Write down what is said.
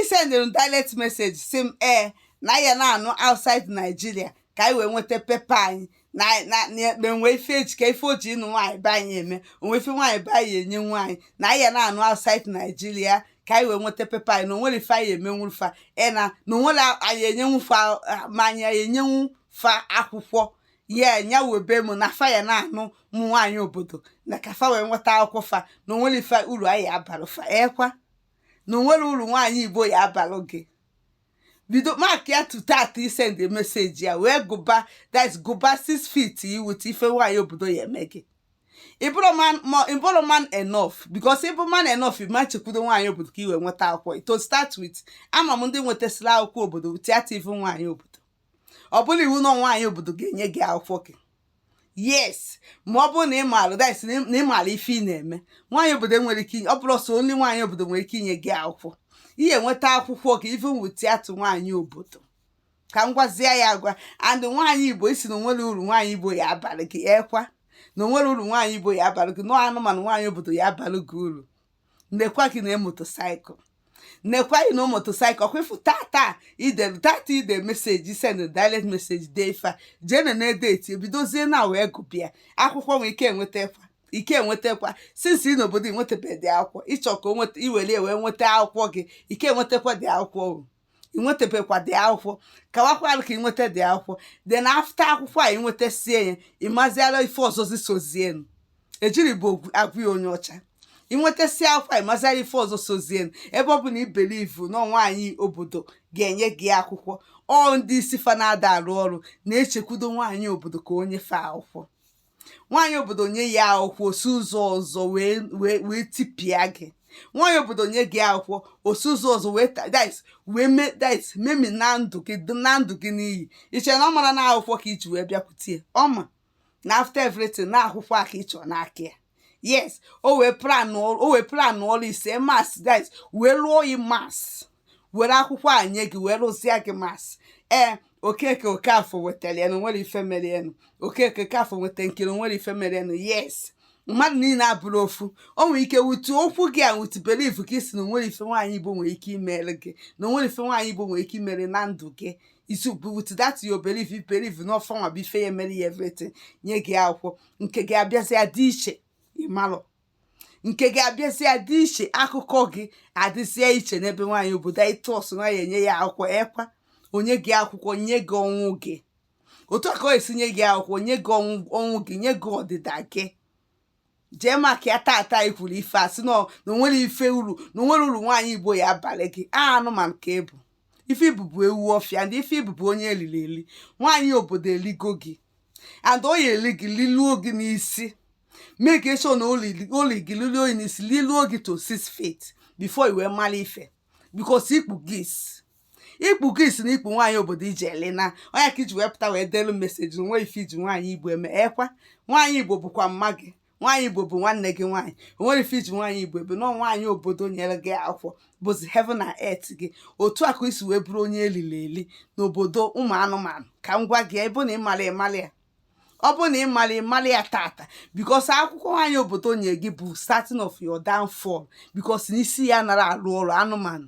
isendịrị m direct message sị m ee na ya na-anụ outside Nigeria ka anyị wee nweta pepa anyị na na na enwe ife eji ka ife o ji ịnụ nwaanyị be anyị eme onwe ife nwaanyị be anyị enyenwu anyị na ya na-anụ outside Nigeria ka anyị wee nweta pepa anyị na onwerọ ife anyị emenwu fa e na na onwerọ anyị enyenwu fa ma anyị enyenwu fa akwụkwọ ya nya webe m na fa ya na-anụ ụmụ nwaanyị obodo na ka fa wee nweta akwụkwọ fa na onwerọ ife uru anyị abara fa ekwa na onwerọ uru nwaanyị igbo ya abalụ gị bido mark ya tata i send message ya wee gụba that gụba six feet iwute ife nwaanyị obodo ya eme gị ị bụrọ man ma ị bụrọ man enough because ị bụ man enough ị ma chekwudo nwaanyị obodo ka i wee nweta akwụkwọ to start with ama m ndị nwetasịrị akwụkwọ obodo without ịnụ nwaanyị obodo ọ bụrọ iwu na nwaanyị obodo ga-enye gị akwụkwọ gị yes ma ọ bụrụ na ị maara that is na ị- na ị maara ife ị na-eme nwaanyị obodo nwere ike inye ọ bụrọ sọ only nwaanyị obodo nwere ike inye gị akwụkwọ ị ya enweta akwụkwọ gị even without nwaanyị obodo ka m gwazie ya agwa and nwaanyị igbo ị sị na onwerọ uru nwaanyị igbo ya abalụ gị ekwa na onwerọ uru nwaanyị igbo ya abalụ gị nọọ anụmanụ nwaanyị obodo ya abalụ gị uru nekwa gị na motorcycle nekwa gị na motorcycle ọkwa ịfụ tata ide tata ide message send direct message dee ife a jee na na date i bidozie na wee gụba ya akwụkwọ nwee ike enweta kwa ike enwetakwa since ị nọ obodo inwetabeghị the akwụkwọ ịchọ ka o nweta iwere wee nweta akwụkwọ gị ike enwetakwa the akwụkwọ o ị nwetebekwa the akwụkwọ kawakwalụ ka ị nweta the akwụkwọ then after akwụkwọ a ị nwetasie ya ị maziala ife ọzọzi sozienu ejiri bụ ogwu- agwụ ya onye ọcha ị nwetasie akwụkwọ a ị maziala ife ọzọ sozienu ebe ọ bụ na i believe na nwaanyị obodo ga-enye gị akwụkwọ ọ ndị isi fa na-ada arụ ọrụ na-echekwudo nwaanyị obodo ka o nye fa akwụkwọ nwaanyị obodo nye ya akwụkwọ o si ụzọ ọzọ wee wee wee tipịa gị nwaanyị obodo nye gị akwụkwọ o si ụzọ ọzọ wee ta- that is, wee me that is, memina ndụ gị dị na ndụ gị n'iyi i che na ọ marọ na akwụkwọ ka iji wee bịakwute ya ọ ma na after everything na akwụkwọ a ka ị chọrọ n'aka ya yes o wee plan o wee plan ọ rụsie maths that is, wee lụọ yi maths were akwụkwọ a nye gị wee rụzie gị maths ee okeke okafọ wetara ya na onwerọ ife mere enu okeke okafọ weta nkiri onwerọ ife mere enu yes mmadụ niile abụrọ ofu o nwere ike with okwu gị a with belief ka ị sị na onwerọ ife nwaanyị igbo nwere ike imere gị na onwerọ ife nwaanyị igbo nwere ike imere na ndụ gị is with that your belief belief na ọ fanwa bụ ife ya emere ya everything nye gị akwụkwọ nke gị abịazie dị iche ịmalụ nke gị abịazịa dị iche akụkọ gị adịzịa iche n'ebe nwaanyị obodo anyị tụọsụ nwaanyị enye ya akwụkwọ ekwa o nye gị akwụkwọ nye gị ọnwụ gị otu a ka o si nye gị akwụkwọ nye gị ọnwụ gị nye gị ọdịda gị jee maka ya tata anyị kwuru ife a sị na o nwere ife uru na o nwere uru nwaanyị igbo ya abalị gị a anụmanụ ka ị bụ ife ị bụ bụ ewu ọfịa ndị ife ị bụ bụ onye eliri eli nwaanyị obodo eligo gị and ọ ya eli gị liluo gị n'isi make sure na o li gị liluo gị n'isi liluo gị to six feet before i wee mara ife because ikpu gị ikpu gị isi n'ikpu nwaanyị obodo iji ele na onye ka i ji wee pụta wee delu message nwe ife i ji nwaanyị igbo eme ekwa nwaanyị igbo bụkwa mma gị nwaanyị igbo bụ nwanne gị nwaanyị o nwere ife i ji nwaanyị igbo ebe na nwaanyị obodo nyere gị akwụkwọ bụzi heaven and earth gị otu a ka i si wee bụrụ onye eliri eli n'obodo ụmụ anụmanụ ka m gwa gị ọ bụ na ịmara ịmara ya ọ bụ na ịmara ịmara ya tata because akwụkwọ nwaanyị obodo nye gị bụ starting of your downfall because n'isi ya anara arụ ọrụ anụmanụ